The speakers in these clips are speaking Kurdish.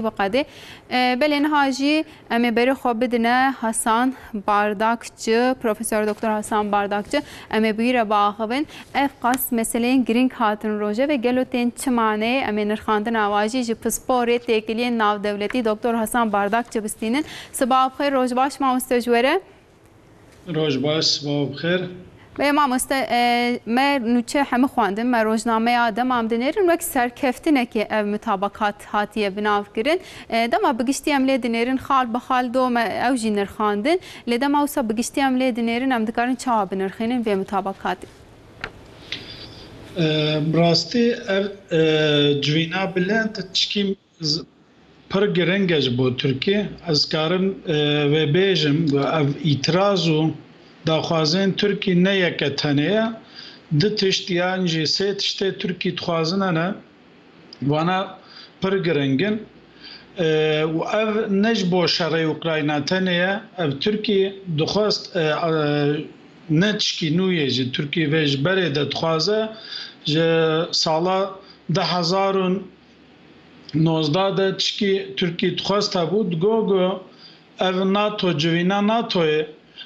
biqedê. Belê niha jî em ê berê xwe bidine Hasan Bardakçi, Profesor Doktor Hasan Bardakçi. Em ê bi wî re biaxivin. Ev qas meseleyên girîng hatin rojevê. Gelo tên çi maneyê? Em ê nirxandina wajî ji pisporê têkiliyên navdewletî Doktor Hasan Bardakçi bistînin. Siba bixêr, roj baş mamoste ji we re. Roj baş, sibao bi xêr. Beye mamoste me nûçe hemû xwendin me rojnameya dema em dinêrin wek serkeftinekê ev mutabakat hatiye binavkirin dema bi giştî em lê dinêrin xal bi xal do me ew jî nirxandin lê dema wisa bi giştî em lê dinêrin em dikarin çawa binirxînin vê mutabakatê? Bi rastî ev civîna bilind tişkî Ez pir giring e ji bo Tirkiyê. Ez karim vê bêjim ku ev îtiraz û daxwazên Tirkiyê ne yeke tenê ye. Du tişt yan jî sê tiştê Tirkiyê dixwazine ne. Wana pir giring in. Û ev ne ji bo şerê Ukrayna tenê ye. Ev Tirkiyê dixwest ne tişkî nû yê ji Tirkiyê vê ji berê de dixwaze ji sala du hezar û Nozdeh de tişkî Tirkî dixwest hebû, digot ku ev nato civîna natoyê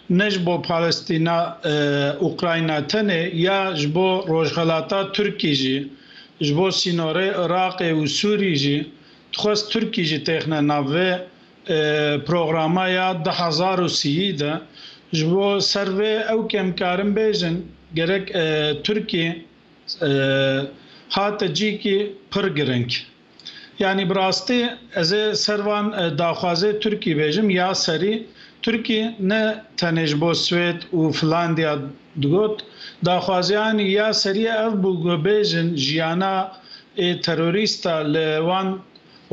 ne ji bo Palestîna Ukrayna tenê ya ji bo rojxelata Tirkî jî ji bo sînorê Iraqê û Sûrî jî dixwest Tirkî jî têxine nav vê programa ya du hezar û sîyî de ji bo ser vê ew kemkarin bêjin gerek Tirkî Hate cîkî pir giring. Yanî bi rastî ez ê ser van daxwazê Tirkî bêjim ya serî Tirkî ne tenê ji bo Swêd û Filandîya digot. Daxwaziyanî ya serî ev bû ku bêjin jiyana ê terorîsta li wan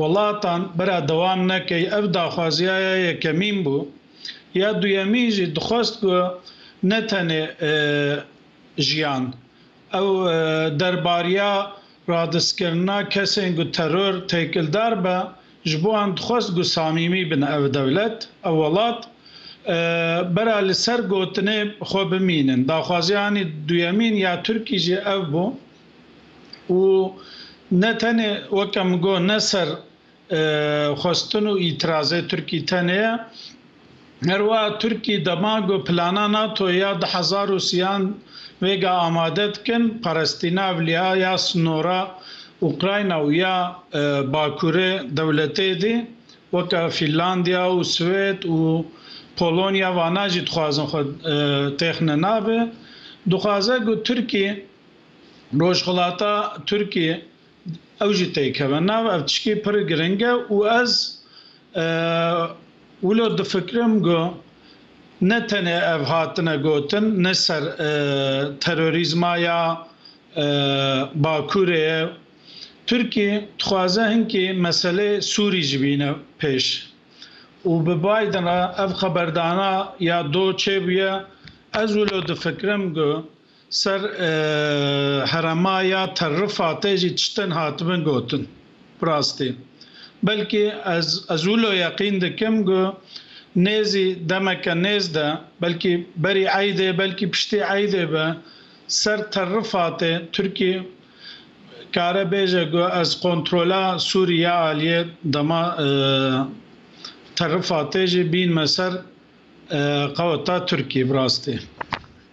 welatan bira dewam nekey. Ev daxwaziya ya yekemîn bû. Ya duyemîn jî dixwest ku ne tenê. jiyan. Ew derbariya radiskirina kesên ku teror têkildar be, ji bo em dixwest ku samîmî bin ev dewlet, ew welat, bera li ser gotinê xwe bimînin. Daxwaziya anî duyemîn ya Tirkî jî ev bû û ne tenê weke min got ne ser Xwestin û îtîrazê Tirkî tenê ye. Her wiha Tirkî dema ku plana NATO ya du hezar û sîyan vêga amade dikin, parestîna evliha ya sinora Ukrayna û ya Bakurê dewletê dî, weke Fînlandiya û Swêd û Polonya vana jî dixwazin xwe têxine navê. Dixwaze ku Tirkî, rojhilata Tirkî Ew jî têkeve nav. Ev tiştî pir giring e û ez wilo difikirim ku ne tenê ev hatine gotin ne ser terorîzma ya Bakurê ye. Tirkî dixwaze hinkî meseleyê Sûrî jî bîne pêş û bi Biden re ev xeberdana ya do çêbûye. Ez wilo difikirim ku Ser herema ya Tel Rifatê jî tiştin hatibin gotin. Bi rastî belkî ez ez wilo yeqîn dikim ku nêzî demeke nêz de belkî berî eydê belkî piştî eydê be ser Tel Rifatê Tirkî kare bêje ku ez kontrola Sûrîye aliyê dema Tel Rifatê jî bînme ser qeweta Tirkî bi rastî.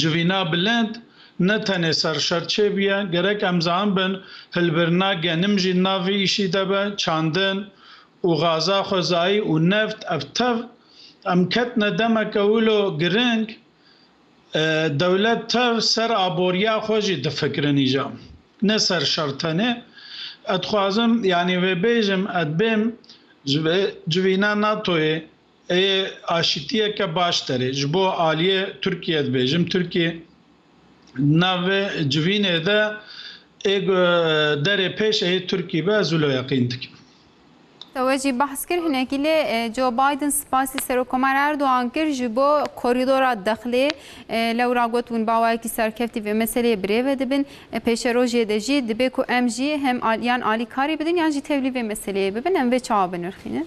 Civîna bilind ne tenê ser şer çêbûye, gerek em zan bin hilbirina genim jî di nav vê îşî de be, çandin û gaza xwezayî û neft ev tev em ketine demeke wilo giring, dewlet tev ser aboriya xwe jî difikirin îja ne ser şer tenê. Ez dixwazim yanî vê bêjim ez bêm ji vê civîna NATO'yê. Ê aşîtiyeke başter e. Ji bo aliyê Tirkiyê dibêjim, Tirkiyê di nav vê civînê de ê ku derê pêş ê Tirkî be, ez wilo yeqîn dikim. Te wecî behs kir hinekî lê Joe Biden spasî Serokkomer Erdogan kir ji bo korîdora Dexlê. Lewra got hûn bawayekî serkeftî vê meseleyê bi rê ve dibin. Pêşerojiyê de jî dibê ku em jî hem yan alîkarî bidin yan jî tevlî vê meseleyê bibin. Em vê çawa binirxînin?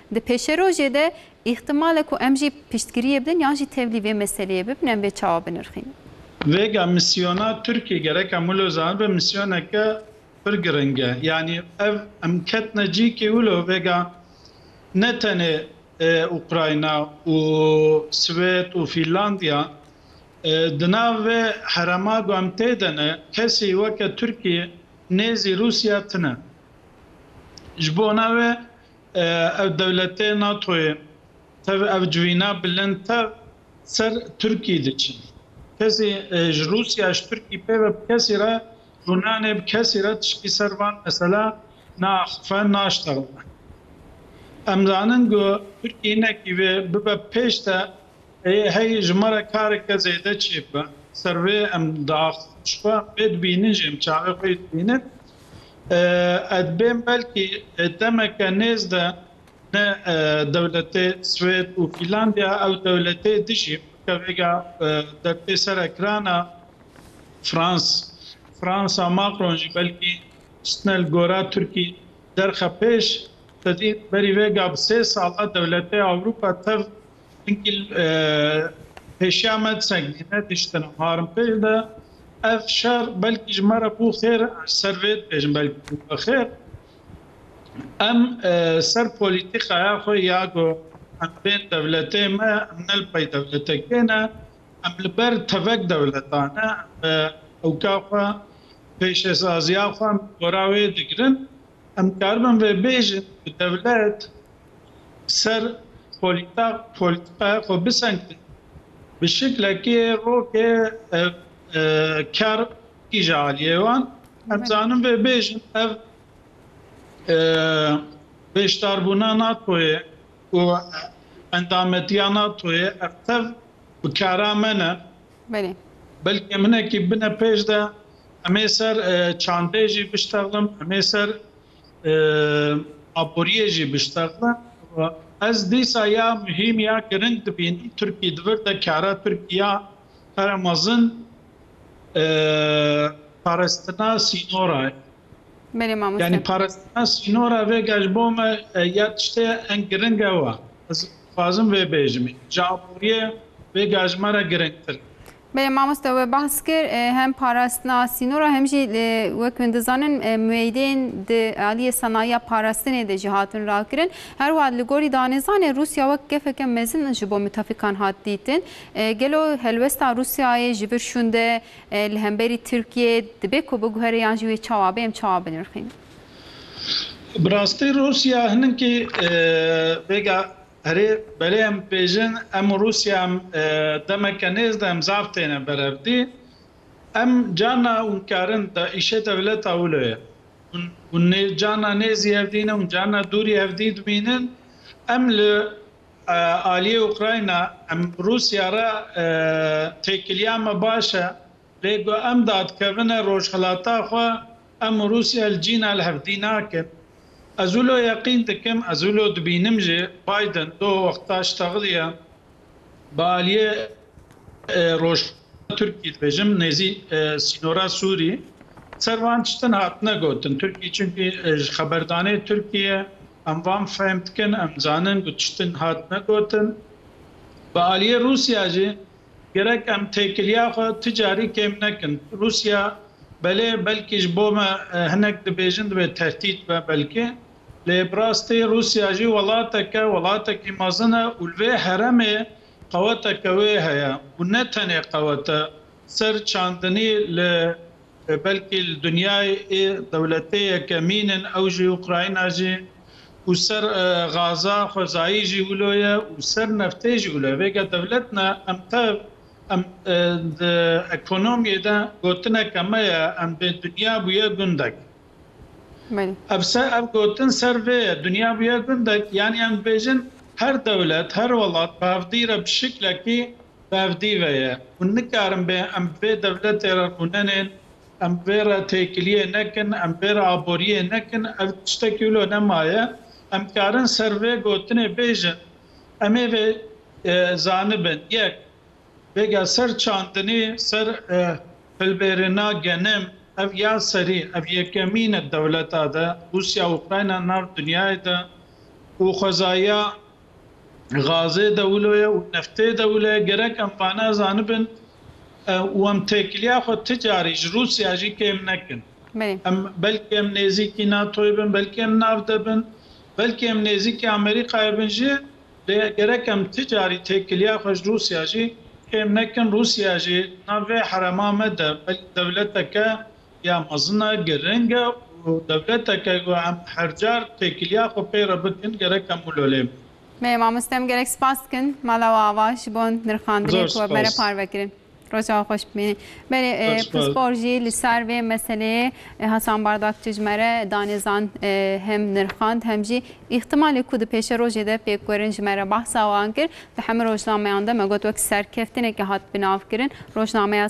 Di pêşerojê de îhtimal e ku em jî piştgiriyê bidin yan jî tevlî vê meseleyê bibin em vê çawa binirxînin. Vêga mîsyona Tirkiyê gerek hemû li zanin be mîsyoneke pir giring e. Yanî ev em ketine cî kê wilo vêga ne tenê Ukrayna û Swêd û Fînlandiya di nav vê herema ku em tê de ne kesî weke Tirkiyê nêzî Rûsya tune. Ji bona wê Ev dewletê NATOyê tev ev civîna bilind tev ser Tirkî diçin. Kesî ji Rûsya ji Tirkî pê ve bi kesî re rûnanê bi kesî re tişkî ser van mesela naaxife naşterime. Em zanin ku Tirkî hinekî vê bibe pêş de hey ji me re kareke zêde çêbibe. Ser vê em diaxivin ji xwe vê dibînin jî em çavê xwe yê dibînin Ed bên belkî demeke nêz de ne dewletê Swêd û Fînlandiya ew dewletê dijî weke vêga dertê sere kirana Frans Fransa Macron jî belkî xistine li gora Tirkî derxe pêş sedî berî vêga bi sê sala dewletê Ewropa tev Hinkil pêşiya me Sengîne diştene Harimpêl de. Ev şer belkî ji me re bû xêr, ser vê dibêjim belkî bû me xêr. Em ser polîtîkaya xwe ya ku em bên dewletê me, em ne li pey dewletekê ne, em li ber tevek dewleta ne, em ewka xwe, pêşesaziya xwe em li gora wê digirin. Em dikaribin vê bêjin ku dewlet, ser polîtîkaya xwe bisengin bi şiklekî rokê ker tî ji aliyê wan. Ez dizanim vê bêjim ev beşdarbûna NATOyê û endametiya NATOyê ev tev bi kara me ne. Belê. Belkî hinekî bine pêş de em ê ser çandê jî biştexlim, em ê ser aboriyê jî biştexne. Ez dîsa ya muhîm ya giring dibînim Tirkî di vir de kara Tirkî ya pere mezin parestina sînora ye. Belê mamoste. Yanî parestina sînora vêga ji bo me ya tiştê ye ên giring ew e. Ez dixwazim vê bêjimî. Ji aboriyê vêga ji me re giringtir e. Belê mamoste we behs kir hem parastina sînor a hem jî wek min dizanin mueyidên di aliyê senayiya parastinê de jî hatin rakirin. Her wiha li gorî danêzanê Rûsya wek gefeke mezin ji bo mutefîkan hat dîtin. Gelo helwesta Rûsyayê ji vir şûnde li hemberî Tirkiyê dibe ku biguhere yan jî wê çawa be em çawa binirxînin? Bi rastî Rûsya hininkî vêga Erê, belê em bêjin, em û Rûsya em demeke nêz de em zaf têne berevdî. Em carna hûn karin da îşê dewleta wilo ye. Hûn hûn nê carna nêzî hev dînin, hûn carna dûrî hev dî dibînin. Em li aliyê Ukrayna, em Rûsya re têkiliya me baş e. Lê ku em dadkevine rojhilata xwe, em Rûsya li cîna li hevdî nakin. Ez wilo yeqîn dikim, ez wilo dibînim jî Biden doh wexta ji texliya bi aliyê rojhilata Tirkî dibêjim nêzî sînora Sûrî ser van tiştin hatine gotin. Tirkî çimkî ji xeberdanê Tirkîyê em van fehm dikin, em dizanin ku tiştin hatine gotin. Bi aliyê Rûsya jî. Gerek em têkiliya xwe tu carî kêm nekin. Rûsya belê belkî ji bo me hinek dibêjin divê tehdît be belkî. Lê bi rastî Rûsya jî welatek e, welatekî mezin e û li vê heremê qeweteke wê heye û ne tenê qewet e, ser çandinî li Belkî li dinyayê dewletê yekemîn in ew jî Ukrayna jî û ser gaza xwezayî jî wilo ye û ser neftê jî wilo ye. Vêga dewlet ne em tev em di ekonomiyê de gotineke me ye em bê dinya bûye gundek. Ev ser ev gotin ser vê ye dinya bûye gundek yanî em dibêjin her dewlet her welat bi hevdî re bi şiklekî Berdî ve ye. Hûn nikarin bê em bi vê dewletê re rûnenên, em bi vê re têkiliyê nekin, em bi vê re aboriyê nekin. Ev tiştekî wilo nemaye. Em dikarin ser vê gotinê bêjin, Em ê vê zanibin, yek, bêga ser çandinî, ser hilbêrina genim, ev ya serî, ev yekemîn e dewleta de, Rûsya û Ukrayna nav dinyayê de û xwezaya Gazê dewlo ye û neftê dewlo ye. Gerek em vane zanibin û em têkiliya xwe ti carî ji Rûsya jî kêm nekin. Em belkî em nêzîkî NATO'yê bin, belkî em nav de bin, belkî em nêzîkî Amerîkayê bin jî lê gerek em ti carî têkiliya xwe ji Rûsya jî kêm nekin. Rûsya jî nav vê herema me de belkî dewleteke ya mezin e, giring e û dewleteke ku em her car têkiliya xwe pê re bikin gerek hemû lolê me. Me mamoste em gerek spas dikin Mala û Ava ji bo nirxandinê ku we bere parve kirin. Roja we xweş bimîne. Belê pispor jî li ser vê meseleyê Hasan Bardakçi ji me re danê zan hem nirxand hem jî îhtimalê ku di pêşe rojê de pêk werin ji me re behsa wan kir. Di hemû rojnameyan de me got wek serkeftineke hat binavkirin rojnameya